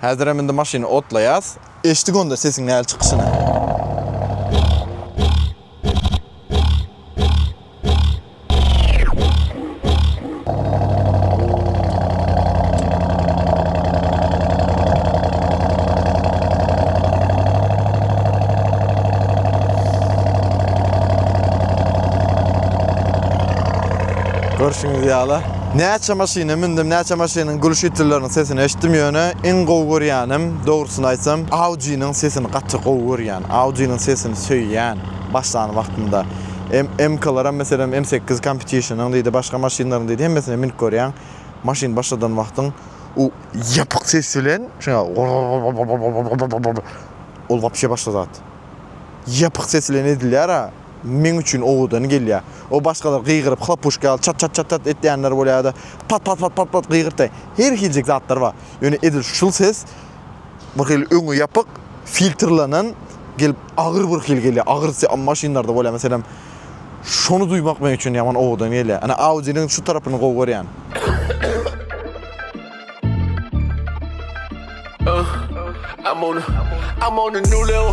Häzirem indi maşyny otlaýas. Eşdik onda sesiň näl çykyşyny. Görşüňiz ýaly. Näçe maşyna mündüm, näçe maşynyň gülüşitlileriniň sesini eşitdim ýöne iň gowy görýänim dogrusyny aýtsam Audiniň sesini gaty gowy görýän, Audiniň sesini söýýän başlan wagtynda. MK-laram meselem M sekiz Competition-yň diýdi başga maşynlaryň diýdi hemmesine münüp görýäň maşyn başladan wagtyň u ýapyk ses bilen şuňa ol wapşe başga zat. Ýapyk ses bilen edilýär-a. meň üçin owadan gelýär. O başgalar gygyryp, hlapuşka ýaly çat-çat-çat-çat etýänler bolýar ýa-da pat-pat-pat-pat-pat gygyrtýar. Her hiljek zatlar bar. Ýöne edil şul ses bir hili öňi ýapyk, filtrlenen gelip agyr bir hili gelýär. Agyr se maşynlarda bolýar meselem. Şony duýmak meň üçin ýaman owadan gelýär. Ine Audi-niň şu tarapyny gowy görýän. I'm on a I'm on a new level.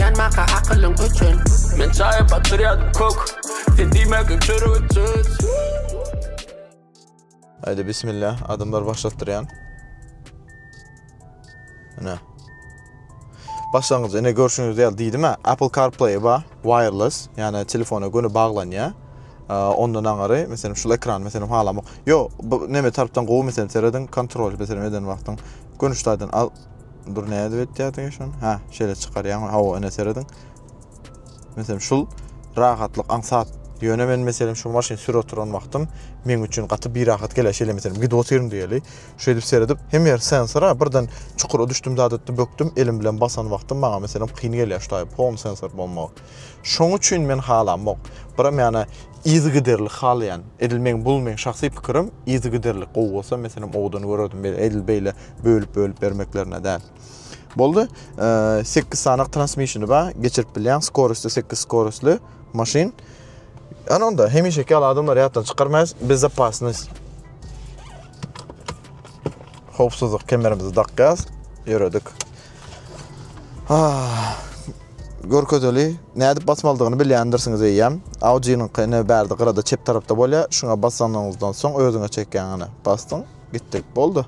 Ýanmaka akylyň üçin Men çaýa batyrýadym kok Sen diýmegin çörek söz Aýde bismillah adamlar başlatdyrýan Ine Başlangyjy ine görşüňiz ýaly diýdim ha Apple CarPlay ba wireless ýa-ni telefona göni baglanýa ondan aňary meselem şu ekran meselem halamok ýo bu neme tarapdan gowy meselem serediň kontrol meselem eden wagtyň gönüşdaýdan al Dur nädip etýärdiň şony? Ha, şeýle çykarýaň. Hawa, ene serediň. Meselem, şul rahatlyk aňsat. Ýöne men meselem şu maşyn sür oturan wagtym meň üçin gaty bir rahat gelýär. Şeýle meselem gidip otyrym diýeli. Şeýdip seredip, hem ýer sensora birden çukura düşdüm zat etdim, bökdüm, elim bilen basan wagtym maňa meselem kyn gelýär şu taýy pon sensor bolmagy. Şoň üçin men halamok. Biram ýana yzygiderli halaýan. Edil meň bul meň şahsy pikirim, yzygiderli gowy bolsa men senem owadan görerdim. Beýle edil beýle bölüp bölüp bermeklerine däl. Boldy. 8 e, sanyk transmissiony bar, geçirip bilýän, skorosty 8 skorostly maşyn. Ana onda hemişeki ýaly adamlar ýatdan çykarmaýas. Bezopasnost. Howpsuzlyk kemerimizi dakýas. Ýöredik. Görkezeli, nädip basmalydygyny bilýändirsiňiz eýýäm. Awjynyňky ine bärde gyrada çep tarapda bolýar. Şuňa basanyňyzdan soň özüňe çekýäň ine. Basdyň, gitdi. Boldy.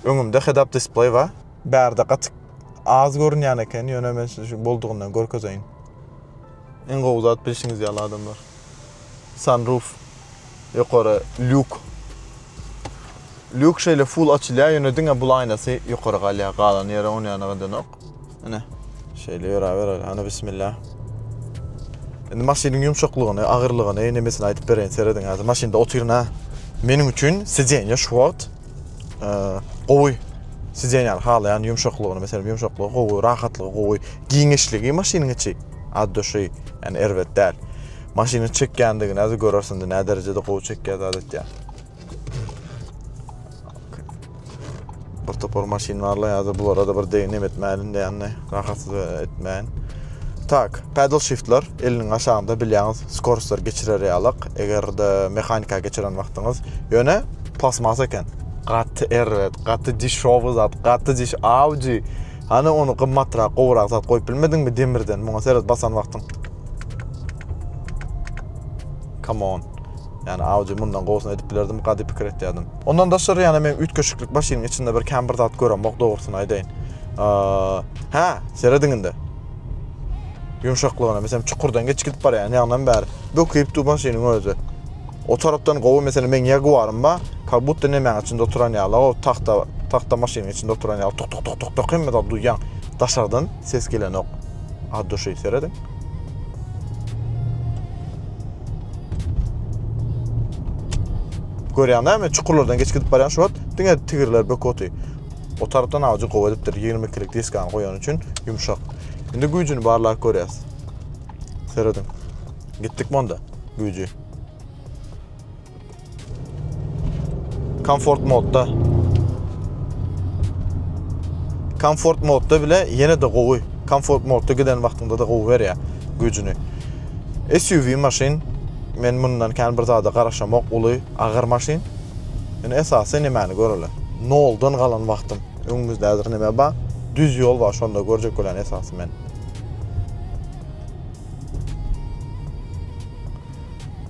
Öňümde head-up display bar. Bärde gaty az görünýän eken, ýöne men size şu boldugyndan görkezeýin. Iň gowy zat bilşiňiz ýaly adamlar. Sunroof, ýokary lýuk. Lýuk şeýle full açylýar, ýöne diňe bul aýnasy ýokary galýar, galan ýeri on ýana gydanok. Ine, şeýle ýöräber, ana bismilla. Indi maşynyň ýumşaklygyny, agyrlygyny, nemesini aýdyp bereýin, serediň häzir. Maşynda otyryn ha. Meniň üçin sidenýe şu wagt e, gowy sidenýäni halaýan ýumşaklygyny, meselem, ýumşaklygy gowy, rahatlygy gowy, giňişligi maşynyň içi ad duşy, ýani erbet däl. Maşynyň çekýändigini häzir görersiň, näderejede gowy çekýär adatda. Bir topar maşyn barla ya da bulara da bir deyin nem etmeyin de yani rahatsız etmeyin. Tak, pedal shiftler eliniň aşağında bilýäňiz, skorstlar geçirer ýalak, eger de mehanika geçiren wagtyňyz. Ýöne plasmasa eken. Gaty erbet, gaty dişowy zat, gaty diş Audi. Hany onu gymmatrak, gowrak zat goýup bilmediňmi demirden? Muňa seret basan wagtyň. Come on. Ýani Audi mundan gowusyny edip bilerdim gady pikir etýädim. Ondan daşary ýani men üýtgeşiklik başynyň içinde bir kän bir zat göremok dogrusyny aýdaýyn. Hä, serediň indi. Ýumşaklygyna meselem çukurdan geç gidip barýan ýagyndan bäri böküp du başynyň özi. O tarapdan gowy meselem men Jaguarym ba, ka butda nemäň içinde oturan ýaly o tahta tahta maşynyň içinde oturan ýaly tuk tuk tuk tuk tuk hemme zat duýýan. Daşardan ses gelenok. Ad duşy serediň. Görýäň näme çukurlardan geçip gidip barýan şu wagt diňe tigirler bök oty. O tarapdan awjy gowy edipdir 20 kilik diskany goýan üçin ýumşak. Indi güýjüni barlap görýäs. Serediň. Gitdik monda güýji. Komfort modda. Komfort modda bile ýene de gowy. Komfort modda giden wagtyňda da gowy berýär güýjüni. SUV maşyn men mundan kän bir zada garaşamok, uly, agyr maşyn. Indi esasy nämäni göreli? Noldan galan wagtym. Öňümizde häzir näme bar? Düz ýol bar, şonda görjek bolýan esasy men.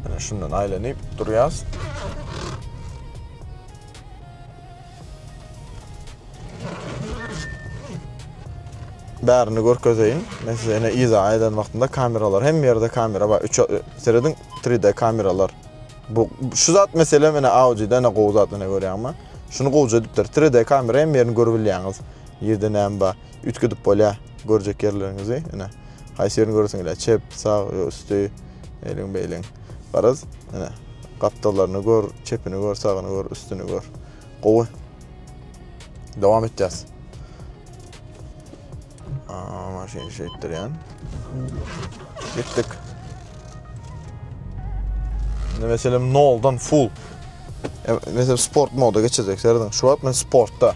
Mine şundan aýlanyp durýas. Bärini görkezeýin. Men size ene iza aýdan wagtynda kameralar hem ýerde kamera bar. 3 serediň 3D kameralar. Bu şu zat mesele mene Audi-de ene gowy zat ene görýäňmi? Şunu gowja edipdir. 3D kamera hem ýerini görüp bilýäňiz. Ýerde näme bar? üýtgedip bolýar görjek ýerleriňizi. Ine, haýsy ýerini göresiň ila çep, sag, ýa üsti, eýleň, beýleň. Garaz, ine, gapdallaryny gör, çepini gör, sagyny gör, üstüni gör. Gowy. Dowam etýäs. Aa, maşyny şeýtdirýän. Gitdik. Indi meselem noldan full. Mesela sport moda geçirdik. Serdin, şu wagt men sportda.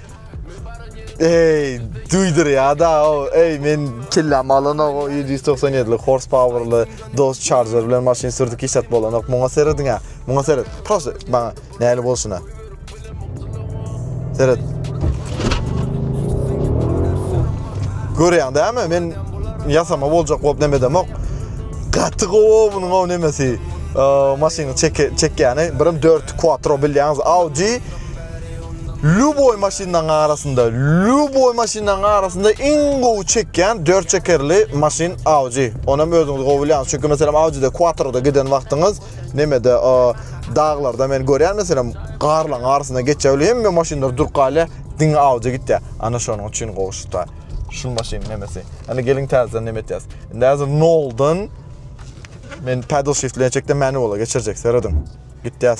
Ey, duydur ya da o, ey men kellam alan o 797'li horsepower'lı Dodge Charger bilen maşyn sürdük hiç at bolanok. Muňa seredin ya. Muňa seret. Prosto bana näli bolsun ha. Seret. Görýän dämi? Men ýasama boljak bolup neme demok. Gaty gowy munuň o nemesi. Maşyny çekýäni, birim 4 quattro bilýäňiz Audi Lýuboý maşynlaryň arasynda Lýuboý maşynlaryň arasynda iň gowy çekýän dört çekerli maşyn Audi. Onam özüňiz gowy bilýäňiz. Çünki meselem Audi-de Quattro-da giden wagtyňyz nemede daglarda men görýän meselem garlaryň arasynda geçjegli hemme maşynlar durup galýa diňe Audi gitýä. Ana şonuň üçin gowy şuta. Şu maşyn nemesi. Ana geliň täzeden neme etýäs. Indi häzir noldan men pedal shift bilen çekdim manuala geçirjek serediň. Gitýäs.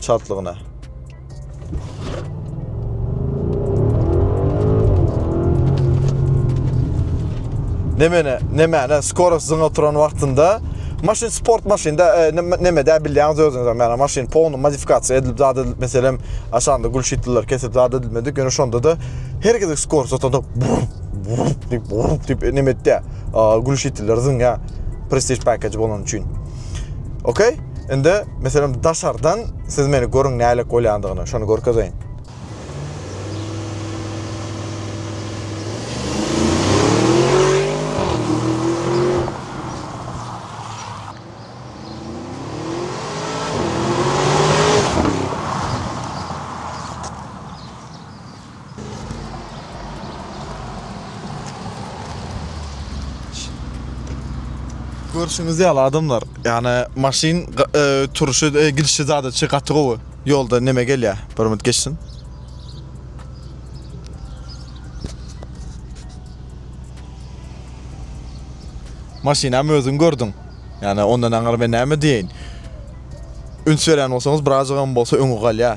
çaltlygyna. Nemene, nemene, skoro sizin oturan vaxtında maşin sport maşinda e, neme dä bilýäňiz özüňiz hem ýa maşin polny modifikasiýa edilip zat edilip meselem aşanda gül şitliler kesip zat edilmedik ýöne şonda da her gezek skor satanda diýip diýip neme etdi gül şitliler zyn ýa prestige package bolan üçin Okey? Indi meselem daşardan siz meni görüň nälik bolýandygyny, şony görkezeýin. Görşüňiz ýaly adamlar, ýagny maşyn e, turşy, e, gidişi zada çy gaty gowy. Ýolda neme gelýä? Bir minut geçsin. Maşyny hem özüň gördüň. Ýagny ondan aňyr men näme diýeýin? Üns berýän bolsaňyz, birazjygam bolsa öňi galýa.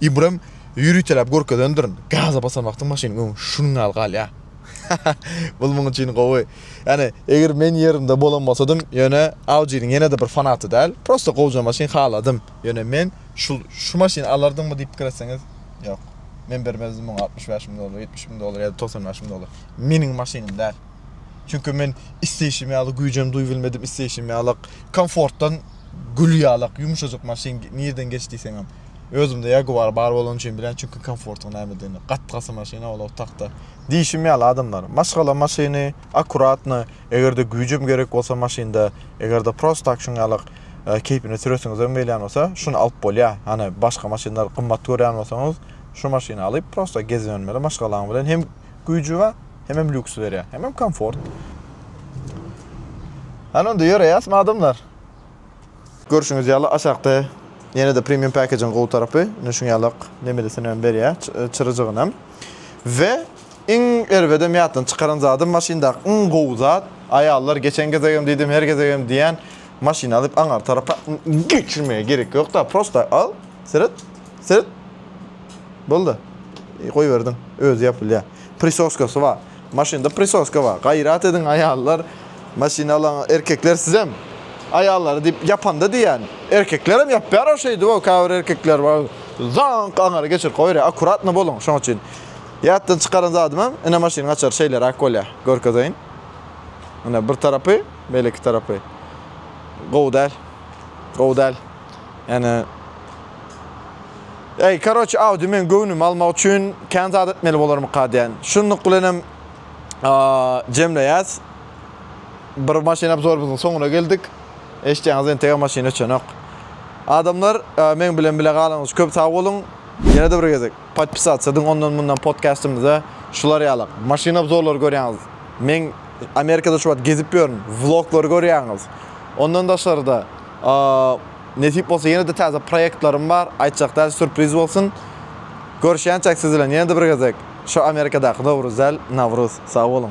Ibram ýüriteläp görkezendirin. Gaza basan wagtyň maşynyň öňi şunuň ýaly galýa. Bul muň üçin gowy. Ýani eger men ýerinde bolan bolsadym ýöne Audiniň ýenede bir fanaty däl. Prosta gowja maşyn haladym. Ýöne men şul şu maşyny alardyňmy diýip pikir etseňiz ýok. Men bermezdim muňa altmyş bäş müň dollar, ýetmiş müň dollar ýa-da togsan bäş müň dollar. Meniň maşynym däl. Çünki men isleýşim ýaly güýjem duýbilmedim isleýşim ýalyk komfortdan gül ýalyk ýumşajyk maşyn nirden geç diýseňem. Özümde Jaguar bar bolany üçin bilýän, çünki komfortyň nämedigini. Gat-gaty maşyna ol otagda. Diýşim ýaly, adamlar, maşgala maşyny, akkuratno, eger-de güýjem gerek bolsa maşynda, eger-de prost tak şuň ýalyk keýpine süresiňizem gelýän bolsa, şuny alyp bolýar. Hany, başga maşynlary gymmat görýän bolsaňyz, şu maşyny alyp, prosta gezip ýörmeli, maşgalaň bilen hem güýji bar, hemem lýuks berýär, hemem komfort. Hany onda ýöreýäsmi, adamlar? Görşüňiz ýaly aşakda ýene-de premium package-iň gowy tarapy, ine şuň ýalak nemelisini hem berýär, çyryjygyny hem. We iň erbedem ýatdan çykaran zadym maşyndaky iň gowy zat, aýallar geçen gezegem diýdim, her gezegem diýýän, maşyny alyp aňar tarapa geçirmäge gerek ýokda, prosta al, seret, seret, boldy, goýberdiň, özi ýapylýar. Prisoskasy bar. Maşynda prisoska bar. Gaýrat ediň aýallar, maşyny alan erkekler sizem aýallary diýip ýapanda diýýän. Erkeklerem ýapýar o şeýdip-ow käbir erkekler bar. Zaňk aňry geçirip goýberýär. Akkuratny boluň şoň üçin. Ýatdan çykaran zadymam ine maşynyň açary şeýleräk bolýar. Görkezeýin. Ine bir tarapy, beýleki tarapy. Gowy däl. Gowy däl. Ýane Eý karoç Audi meň göwnümi almak üçin kän zat etmeli bolarmyka diýän. Şunluk bilenem jemleýäs. Bir maşyn obzorymyzyň soňuna geldik. Eşitýäňiz entegem maşyn öçenok. Adamlar meň bilen bile galyňyz köp sag boluň. Ýene-de bir gezek podpisatsa ediň ondan mundan podkastymyza. Şular ýalak maşyn obzorlary görýäňiz. Men Amerikada şu wagt gezip ýörün. Vloglary görýäňiz. Ondan daşary-da Nesip bolsa ýene-de täze proýektlerim bar, aýtjak däl sürpriz bolsun. Görüşýänçäk siz bilen ýene-de bir gezek, şo Amerikadaky Nowruzel, Nawruz. Sag boluň.